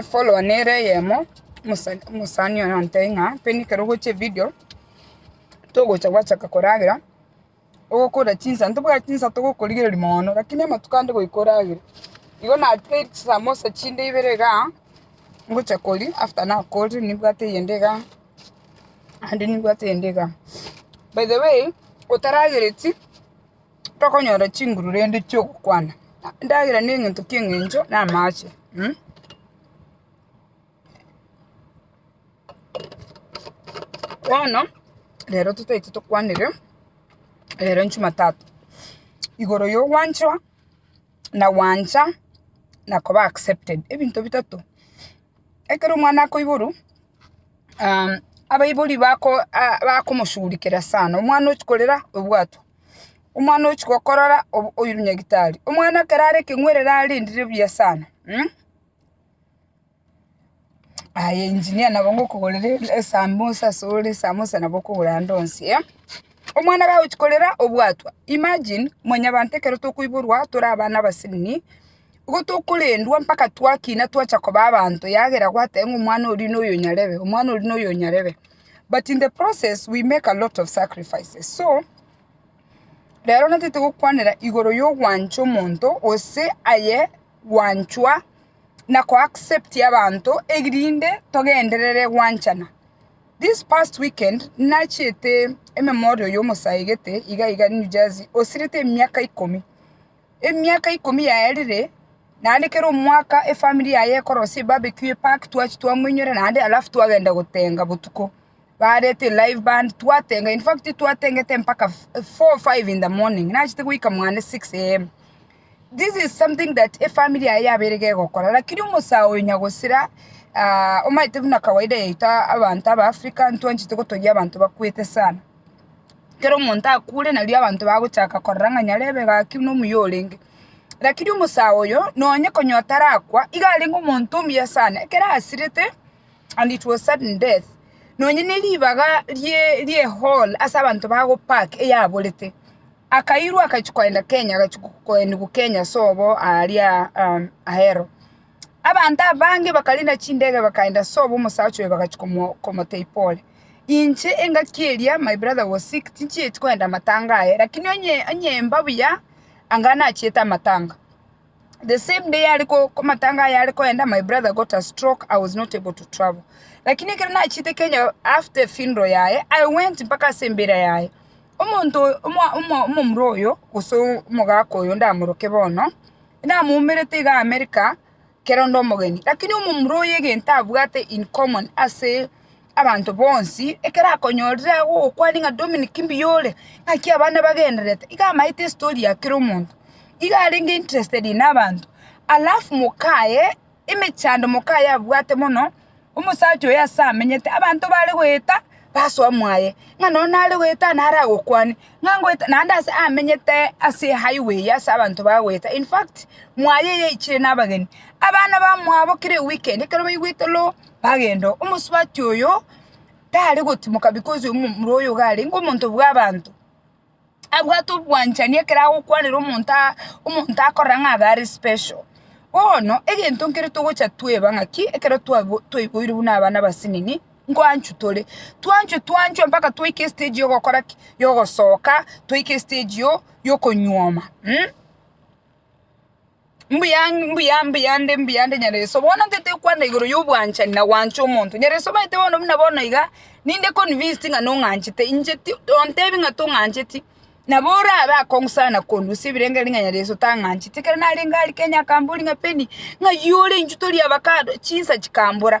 Efollower nere eyemo, omosani oye nantebia ng'a pende ekero ogocha evidio, togocha gwachaka koragera, ogokora chinsa, ntobwati chinsa togokorigereria mono, rakini amatuko ande goika oragere. Igo natigeiri chisamosa chinde ibere igaa, ngocha koria, after nakoria, nibwate eyende igaa, naende nibwate eyende igaa. By the way, otaragereti. Tokonyora chinguru rende chi'ogokwana, endagera negento ki'engencho namaache. Bono rero totaete tokwanere rero Jumatatu, igoro y'ogwanchwa, na gwancha, na koba accepted, ebinto bitato. Ekero omwana akoiborwa, abaibori bako, bakomoshugulikera sana, omwana ochi korera, obwatwa. Omwana ochia gokorora oirwe nyagitari. Omwana ekero are ekeng'werere arendire buya sana. Aye engineer nabo ngokogorera esamosa ase ore esamosa nabo okogora ande onsi. Omwana gagochia korera obwatwa. Imagine mwanyabanto ekero tokoiborwa tore abana abasinni, nigo tokorendwa mpaka twakina twacha koba abanto yagera gwateba ng'a omwana oria noyo nyarebe, omwana oria noyo nyarebe. but in the process we make a lot of sacrifices so rero natete gokwanera igoro y'ogwancha omonto gose aye gwanchwa na ko accept abanto erinde togenderere gwanchana. This past weekend nachiete e memorial y'omosae gete iga iga New Jersey osirete emiaka ikomi. Emiaka ikomi yaerire, naende kera omwaka efamiri yaye ekorosia ebarbecue epark twachi twamoinyora naende alafu twagenda gotenga botuko barete elive band twatenga in fact twatengete mpaka four five in the morning nachete goika mwane six AM this is something that efamiri yaye yabeire gegokora lakini omosae oyo nyagosira omanyete buna kawaida yaito abanto aba Africa ntwanchete gotogia abanto bakwete sana. Ekero omonto akure nario abanto bagochaka korora ng'a nyarebe gaki buna omuya orenge. Rakini omosae oyo nonye konya otarakwa, iga arenge omonto omuya sana, ekero asirete and it was sudden death, nonye ne ribaga rie riehall ase abanto ba go park eyaborete, akairwa agachia koenda Kenya agachia koenigwa Kenya sobo aria ahero. Abanto abange bakariina chindege bakaenda ase obo omosacha oyo bagachia komotebia pole. Inche engaki eria my brother was sick tinchieti kogenda amatanga aye lakini onye onye mba buya anga nachiete amatanga. The same day are amatanga aye are kogenda my brother got a stroke I was not able to travel lakini ekero nachiete Kenya after funeral yaye I went mpaka ase embira yaye. Omonto omo omo omomura oyo gose omogaka oyo ndamoroke bono. Namoumerete iga Amerika ker'onde omogeni, lakini omomura oyo egento abwate in common ase abanto bonsi ekero akonyorire agogokwania ng'a Dominic mbuya ore, ng'aki abana bagendererete, iga amaete estory ya kera omonto. Iga arenge interested in abanto, alafu mokaye emechando mokayabwate mono, omosacha oyo ase amenyete, abanto bare goeta basoa mwaye, ng'a nonya nare goeta nare agokwane, ng'a ngoeta naende ase amenyete ase ehighway eye ase abanto ba goeta, in fact, mwaye yaichire na abageni, abana ba mwabo kera eweekend ekero baigwete lo, bagenda oo, omosubati oyo tare gotimoka because omomura oyo iga arenge omonto bwa abanto. abwate obwanchani ekero agokwanera omonto aa omonto akorora ng'a abe are special. Bono, egento nkere togocha tweba ng'aki ekero twabo twaiboirwe buna abana abasinini, nkoanchwa tore, twanchwe twanchwe mpaka twaika estage ya ogokora ki? ya ogosoka, twaika estage yo- yokonyuoma. Mbuya, mbuya, mbuya nde, mbuya nde Nyareso. Bono ntete okwana igoro y'obwanchani na gwancha omonto. Nyareso omanyete bono buna bono iga, ninde convinced ng'a nong'anchete. Inche ti, ontebi ng'a tong'ancheti, nabo orabe akong'u sana korwa ase ebirengereri ng'a Nyareso tang'ancheti. Ekero narenge aria Kenya akambori ng'a Penny, ng'ai ore inchuo tori avacado? Chinsa chikambora.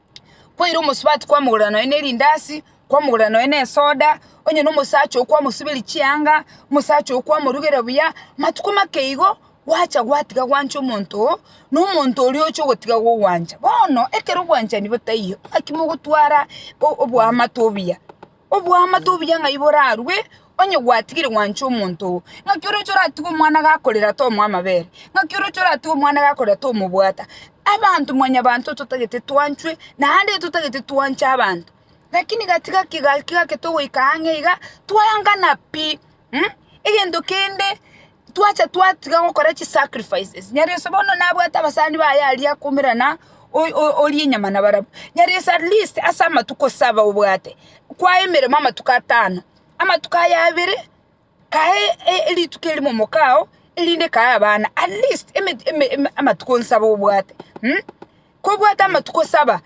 kwaira omosubati kwamogorera nonye na erindasi, kwamogorera nonye na esoda, onye na omosacha oo kwamosuberia chianga, omosacha oo kwamorugera buya, matuko make igo, gwacha gwatiga gwancha omonto oo, na omonto oria oche ogotiga gogwancha. Bono, ekero obwanchani botaiyo, naki mogotwara o- oboamate obuya. Oboamate obuya ng'ai borarue, onye gwatigire gwancha omonto oo? Ng'aki oroche oratige omwana gakorera tomoa amabere? Ng'aki oroche oratige omwana gakorera tomobwata? Abanto mwanyabanto totagete twanchwe, naende totagete twanche abanto. Lakini gatiga kegaki gake togoika ang'e iga, twaengana pi. Mh, egento kende twacha twatiga gokora chisacrifices. Nyareso bono nabwate abasani baye aria akoumera na o- o- oria enyama na barabwo. Nyareso at least ase amatuko saba obwate, kwa emeremo amatuko atano, amatuko aya abere kae e- e- rituko erimo omokao, erinde kae abana, at least eme- eme- eme- amatuko nsaba obwate mh, kobwate amatuko saba,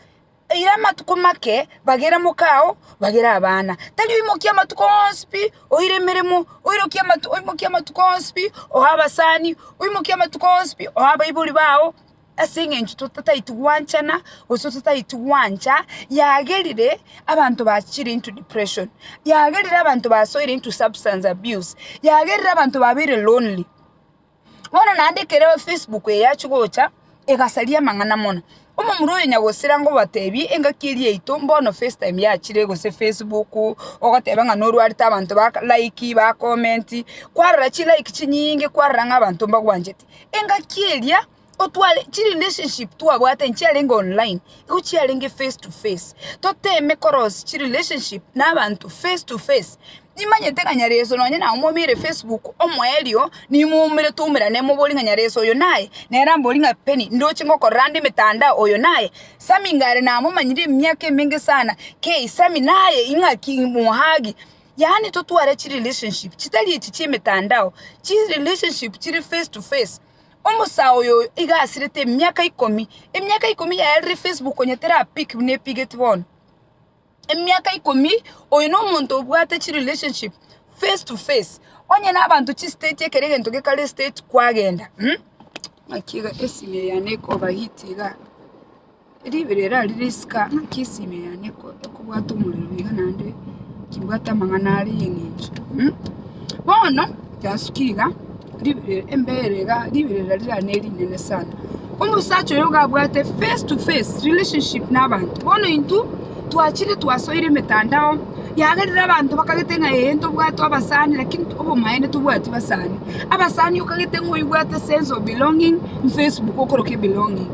Eira amatuko make, bagera mokao, bagera abana. Tari oimokia amatuko onsi pi, oire emeremo, oirokie amatuko, oimokie amatuko onsi pi, oe abasani, oimokie amatuko onsi pi, oe abaibori bao, ase eng'encho totaeti gwanchana, gose totaeti gwancha, yagerire abanto bachire into depression, yagerire abanto basoire into substance abuse, yagerire abanto babeire lonely. Bono naende ekero Facebook eye yachia gocha, egasaria amang'ana mono. Omomura oyo nyagosira ngobatebie engaki eria yaito mbono facetime yachire gose facebook, ogoteba ng'a norwarete abanto ba like, ba comment, kwarora chilike chinyinge kwarora ng'a abanto mbagwanchete. Engaki eria. Otware chirelationship twabwate nchiarenge online, igo chiarenge face to face. Toteme korosi chirelationship na abanto face to face. Nimanyete ng'a Nyareso nonye na omobeire Facebook omoerio, nimoumere twaumerane moborie ng'a Nyareso oyo naye, nere amborie ng'a Penny ndoche ngokorera ande emetandao oyo naye. Sammy ngare namomanyire emiaka emenge sana, kei Sammy naye ing'aki mohagi. Yaani totware chirelationship chitari echi chi'emetandao, chirelationship chire face to face. Omosae oyoyo iga asirete emiaka ikomi, emiaka ikomi yaye rire Facebook onye terapik buna epigeti bono. Emiaka ikomi oyo na omonto obwate chi relationship face to face. Onye na abanto chi state ekero egento gekare state kwagenda. Ng'aki iga esimi eye yane iko overheat igaa. Ribera eri risika ng'aki esime yane ekobwata omorero iga naende timbwate amang'ana are y'eng'encho mm, bono yasukia iga ribera embera iga ribera riria ne rinene sana omosacha oyo iga abwate face to face relationship na abanto bono intwe twachire twasoire emetandao yagerire abanto bakagete ng'a ee ntobwate abasani lakini obomaene tobwati basani abasani okagete ng'a oibwate sense of belonging mfacebook okorokia ebelonging.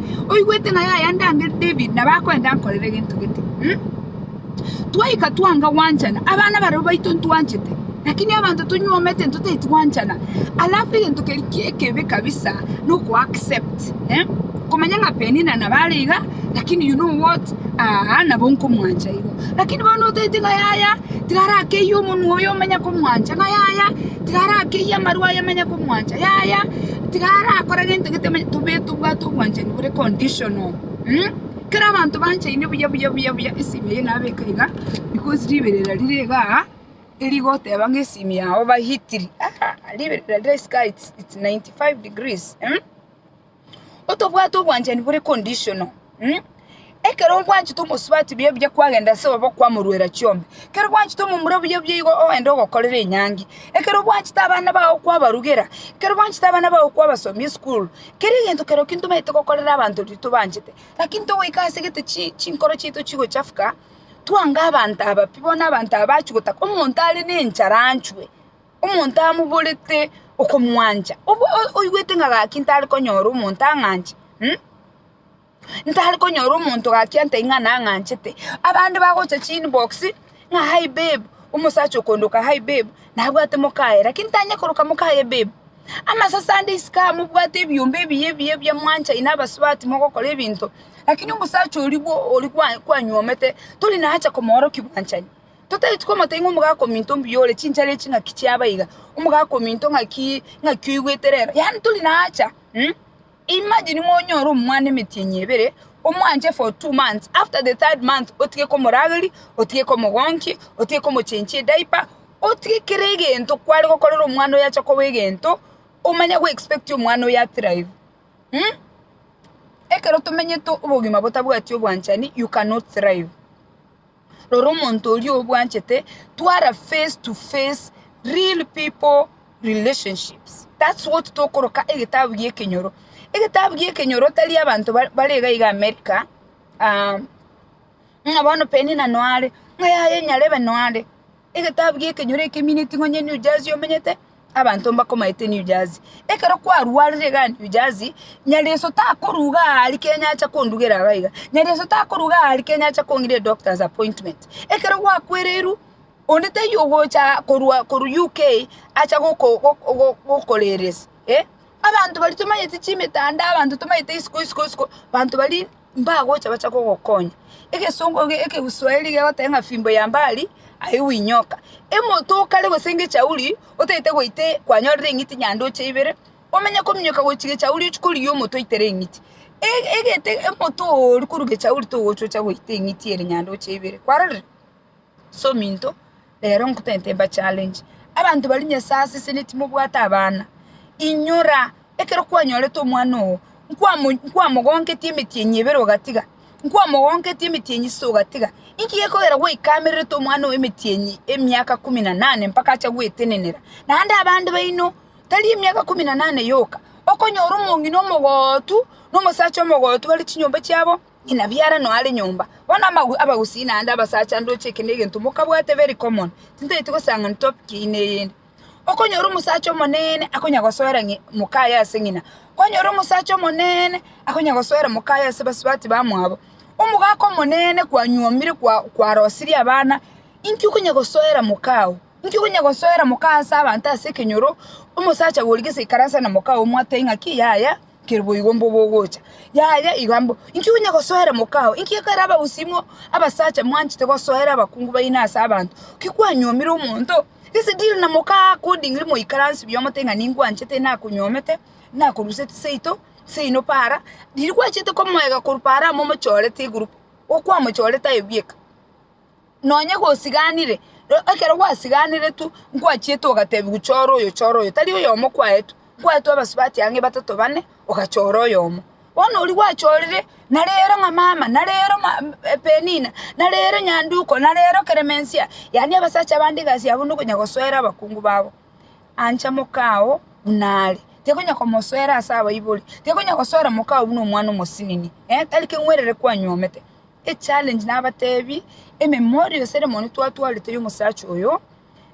oigwete ng'a yaya ndangere David na bakoenda nkorere gento gete. Hmm? Twaika twanga gwanchana, abana barabwo baito ntwanchete, lakini abanto tonywomete ntotaeti gwanchana. Alafu egento keri ekebe kabisa no ko accept eh? komanya ng'a Penina na bare iga lakini you know what aa nabo nkomwancha igo lakini bono otaeti ng'a yaya tigara akeiye omonwa oyo omanya komwancha ng'a yaya tigara akeiye amarwa ayo amanya komwancha yaya Tiga arakore gento gete onye tobe tobwate obwanchani bore conditional. Kera abanto banchaine buya buya buya buya esimi eye nabeka iga because riberera rire iga aa erigoteba ng'a esimi ya over heated aah riberera rire isiko aa it's ninety five degrees otobwate obwanchani bore conditional. Ekero ogwanchete omosubati buya buya kwagenda ase obobe okwamorwera chiombe, ekero gwanchete omomura buya buya igo ogende ogokorera enyangi, ekero gwanchete abana bao kwabarugera, ekero gwanchete abana bao kwabasomia esukuru, kera egento kerokio ntobaete gokorera abanto riria tobanchete. Lakini togoika ase gete chi chinkoro chiaito chigochafuka, twange abanto aba pi, bono abanto aba achwe gotaka omonto are na enchara anchwe, omonto amoborete okomwancha, obwo oigwete ng'a gaki ntare konyora omonto ang'anche. ntare konyora omonto gakiantai ng'a nang'anchete, abande bagocha chinboxi ng'a hi babe, omosacha okondoka hi babe, nabwate mokaye lakini tanyare koroka mokaye babe. Amasase ande isiko aa mobwate ebiombe ebiya ebiya ebiya mwanchaine abasubati mogokora ebinto, lakini omosacha oria bwo oria kwa kwanywomete tori nacha komorokia obwanchani, totageti komotebi ng'a omogaka ominto mbuya ore, chinchara echi ng'aki chiaba iga, omogaka ominto ng'akii ng'aki oigwete rero, yaani tori nacha. Imagine monyore omwana emetienyi ebere omwanche for two months after the third month otige komorageria, otige komogonkia, otige komochenchia ediaper, otige kera egento kware gokorera omwana oyo ache koba egento omanye go expect omwana oyo a thrive mh? Ekero tomenyete obogima botabwati obwanchani you cannot thrive. Rora omonto oria obwanchete twara face to face real people relationships that's what tokoroka egetabu gia ekenyoro egetabu gia ekenyoro tari abanto ba- bare iga iga america um, ng'a bono penina noare ng'a yaya enyarebe noare Egetabu gi'ekenyoro ekemine ting'onya New Jersey omenyete abanto mbakomaete New Jersey ekero kwarwarire igaa New Jersey Nyareso takoruga aari Kenya acha kondugera igaa iga Nyareso takoruga aari Kenya acha kong'ira edoctors appointment ekero gwakwereirwe onde taiyo ogocha korwa korwa UK acha goko goko gokoreresa abanto baria tomanyeti chimitanda abanto tomanyeti isiko isiko isiko abanto baria. mbagocha bache kogokonya. Egesongo ege ekeguswahili kegoteba ng'a fimbo ya mbali haiwi nyoka. Emoto o kare gose ngechauri otagete goita e kwanyorire eng'iti nyandoche ibere, omanye kominyoka gochia gechauri ochie korigia omoto oitere eng'iti. Egete omoto oooria korwa gechauri togocha ocha goita eng'iti ere nyandoche ibere, kwarorire? Asominto, rero nkotente mba challenge. Abanto baria Nyasae asesenia timobwate abana. Inyora, ekero kwanyorete omwana oo, nkwamo nkwamogonketie emetienyi ebere ogatiga, nkwamogonketie emetienyi sita ogatiga, inki gekogera gwaikamererete omwana oo emetienyi emiaka kumi na nane mpaka acha gwetenenera? Naende abande baino, tari emiaka kumi na nane yoka, okonyora omong'ina omogootu, na omosacha omogootu bare chinyomba chiabo. Inabi ara noare nyomba. Bono amagwe abagusii naende abasacha ndoche eke negento mokabwate very common tintaeti gosesang'ani topic eyio na eyende. Okonyora omosacha omonene akonya gosoera ng'i mokaye ase ng'ina. Kwanyora omosacha omonene akonya gosoera mokaye ase basubati bamwabo. Omogaka omonene kwanyuomire kwa kwarosirie abana inki okonya gosoera mokao? Inki okonya gosoera mokao ase abanto ase ekenyoro omosacha gori gese ikaransa na mokao mwatebia ng'aki yaya Ker'boigo mbo bogocha, yaya iga mbo, inki onya gosoera mokao? Inki ekero abagusimo abasacha mwanchete gosoera abakungu baino ase abanto? Ki kwanyuomire omonto? Gese deal na mokao accordingly moikaranse buya omote ng'a ningwanchete nakonyuomete, nakoruseti seito, seino para, riria gwachete komoega korwa para amo omochorete egroup, okwamochorete aye bweka. Nonye gosiganire, ekero gwasiganeretwe, nkwachiete ogatebiwa chora oyo, chora oyo, tari oyomo kwaetwe, nkwaetwe abasubati ang'e batato bane, ogachora oyomo. Bono oria gwachorire, nare ere ng'a mama, nare ere ng'a Penina, nare ere Nyanduko, nare ere Clemencia, yaani abasacha bande egasi yabo nokonya gosoera abakungu babo. Ancha mokao buna are, tekonya komosoera ase abaibori, tekonya gosoera mokao buna omwana omosinini, eh, tari keng'werere kwanyuomete. Echallenge nabatebi, ememori yonsi ere mono twatwarete y'omosacha oyo,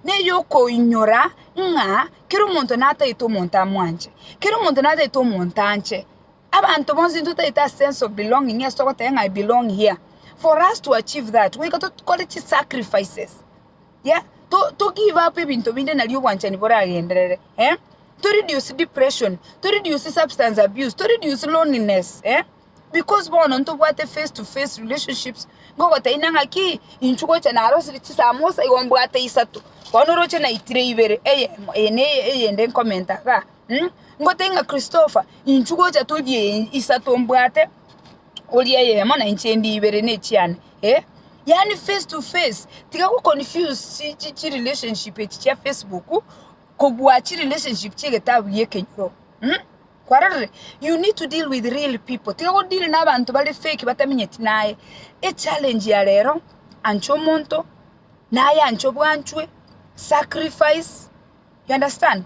neyokoinyora ng'a kera omonto natagete omonto amwanche, kera omonto natagete omonto anche, abanto bonsi ntotagete a sense of belonging ase togoteba ng'a I belong here, for us to achieve that goika tokore chisacrifices. yeah? to, to give up ebinto binde nari obwanchani boragenderere eh? to reduce depression to reduce substance abuse to reduce loneliness eh? because bono ntobwate face to face relationships ngogotaina ng'aki inchu gocha narosire chisamosa igo mbwate isato bono oroche naitire ibere eyemo eye na eye- eyende nkomenta igaa mm? ngotebi ng'a christopher inchu gocha todie isato mbwate Ori eyemo na inche ndi ibere nechiane eh yaani face to face tiga go confuse chi chi chi relationship echi chia Facebook kobua chi relationship chia egetabu gi'ekenyoro mh kwarorire you need to deal with real people tiga go deal na abanto bare fake bataminyeti naye. Echallenge ya rero ancha omonto naye anche obwanchwe sacrifice you understand.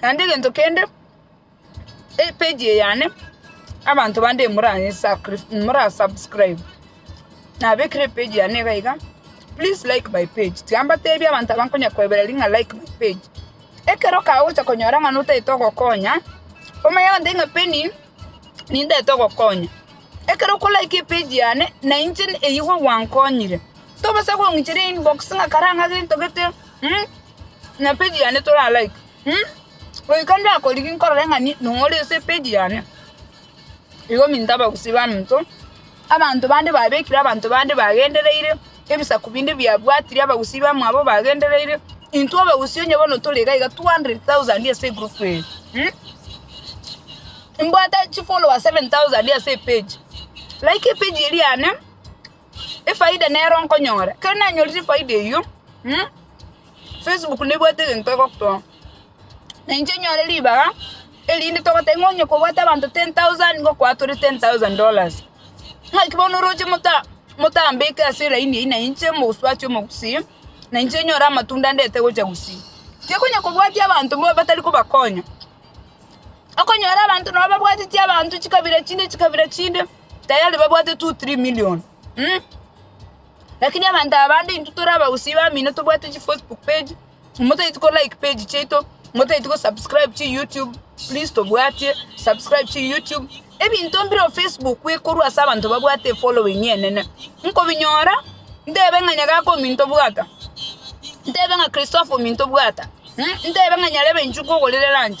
Naende egento kende, epage eye yane, abanto bande moranyesakris morasubscribe, nabekire epage yane iga iga, please like my page, tiga mbatebi abanto aba nkonya koebera ring'a like my page, ekero kagocha konyora ng'a notagete ogokonya, omanye abanto baria ng'a Penny nintagete ogokonya, ekero oko like epage yane, nainche eywo gwankonyire, tobasa kong'icheria inbox ng'a karang'ake ntogete. Na page yane tora like. Goika ndakorigi nkorore ng'a ni nong'ore ase epage yane. Igo minto abagusii baminto, abanto bande babekire abanto bande bagendereire, ebisaku binde biabwatire abagusii bamwabo bagendereire, intwe abagusii onye bono tore iga iga 200,000 ase egroup eye. Mbwate chifollower 7,000 ase epage. Like epage eria yane. Efaida nero nkonyora, ekero nanyorire efaida eyio, Facebook nebwate egento egotoa, na inche nyore ribaga erinde togoteba ng'a onye kobwate abanto ten thousand ngokoa tore ten thousand dollars, ng'aki bono oroche mota motambeke ase elaini eyio na inche omosubati omogusii, na inche nyore amatunda ndete gocha gusii. Inche konya kobwati abanto mbo batari kobakonya, okonyora abanto nabo babwateti abanto chikabira chinde chikabira chinde. tayari babwate two three million um lakini abanto aba bande intwe tore abagusii bamino tobwate chifacebook page motaeti kolike page chiaito motaeti kosubscribe chiyoutube please tobwatie subscribe chiyoutube ebinto mbire o facebook ekorwa ase abanto babwate efollowing enene nkobinyora ntebe ng'a nyagaka ominto bwata ntebe ng'a christopher ominto bwata ntebe ng'a nyarebe inchuka ogorere lunch.